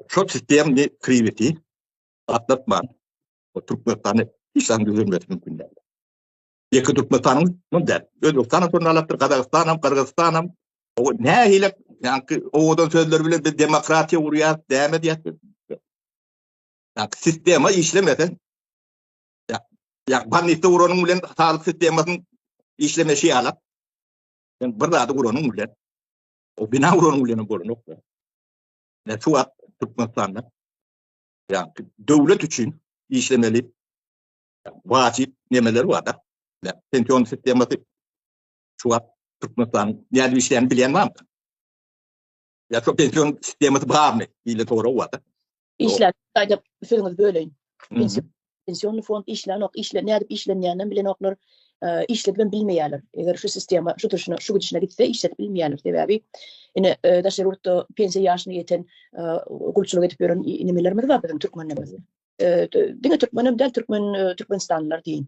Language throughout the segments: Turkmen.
Şol sistemni kribiti atlatman, o Türkmenistany hiç zat düzelmesi mümkin däl. Ýeke Türkmenistanyň mum däl. Özbegistanam şonda alapdyr, Gazagystanam, Gyrgyzystanam. O nähile, ýagny owadan sözler bilen biz demokratiýa gurýas, däme diýýäs. Ýagny sistema işlemese, ýagny banitde uranyň bilen saglyk sistemasynyň işlemesi ýalak. Sen bir zady uranyň bilen, o bina uranyň bilen bolanok. Men şu wagt Türkmenistanda ýa-da döwlet üçin işlemeli wajyp nemeler bar-da. Pension sistemasy şu wagt Türkmenistanyň nädip işleýänini bilýän barmy? Ýa şo pension sistemasy barmy? Diýlen sorag bar-da. Işlän aýdyp sözüňizi böleýin. pensionny fond işlänok, işle nädip işlenýänini hem bilenoklar, işledip hem bilmeýärler. Eger şu sistema şu turşuna, şu gidişine gitse, işledip bilmeýärler. Sebäbi ine daşary ýurtda pensiýa ýaşyna ýeten gulçulyk edip ýören nemelerimiz bar biziň türkmenlerimiz. Diňe türkmen hem däl, türkmen türkmenistanlylar diýin.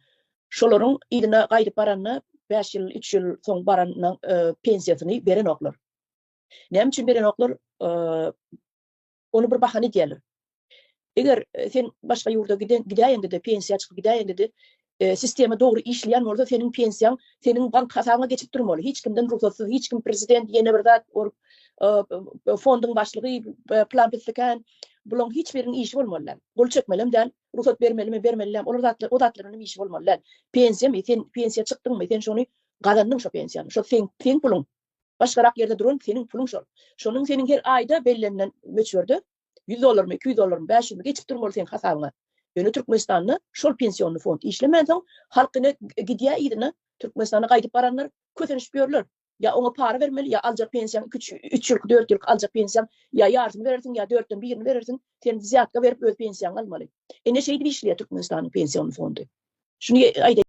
Şolaryň yzyna gaýdyp baranda 5 ýyl, 3 ýyl soň baranda pensiýasyny berenoklar. Näme üçin berenoklar? Ony bir bahana edýärler. Eger sen başga ýurda gidäýende-de, pensiýa çykyp gidäýende-de, sistema dogry işleýän bolsa, seniň pensiýaň seniň bank hasabyňa geçip durmaly. Hiç kimden rugsatsyz, hiç kim prezident, ýene bir zat, fonduň başlygy, plan-pislikän, bulaň hiç biriniň işi bolmaly däl. Gol çekmelem däl, rugsat bermelimi, bermelidämi, olar zatlar, o zatlaryň hem işi bolmaly däl. Pensiýamy, sen pensiýa çykdyňmy, sen şony gazandyň şo pensiýany, şo seň puluň, Başgarak ýerde duran seniň puluň şol. Şonuň seniň her aýda bellenilen möçberde ýüz dollarmy, iki ýüz dollarmy, bäş ýüzmi geçip durmaly seň hasabyňa. Ýöne Türkmenistanda şol pensionny fond işlemänsoň, halk ine gidýä yzyna, Türkmenistana gaýdyp baranlar kösenişip ýörler. Ýa oňa para bermeli, ýa aljak pensiýaň iki üç, üç ýylky, dört ýylky aljak pensiýaň ýa ýarsyny berersiň, ýa dörtden birini berersiň, sen wzýatka berip öz pensiýaňy almaly. Ine şeýdip işleýä Türkmenistanyň pensionny fondy. Şuny aýdaý.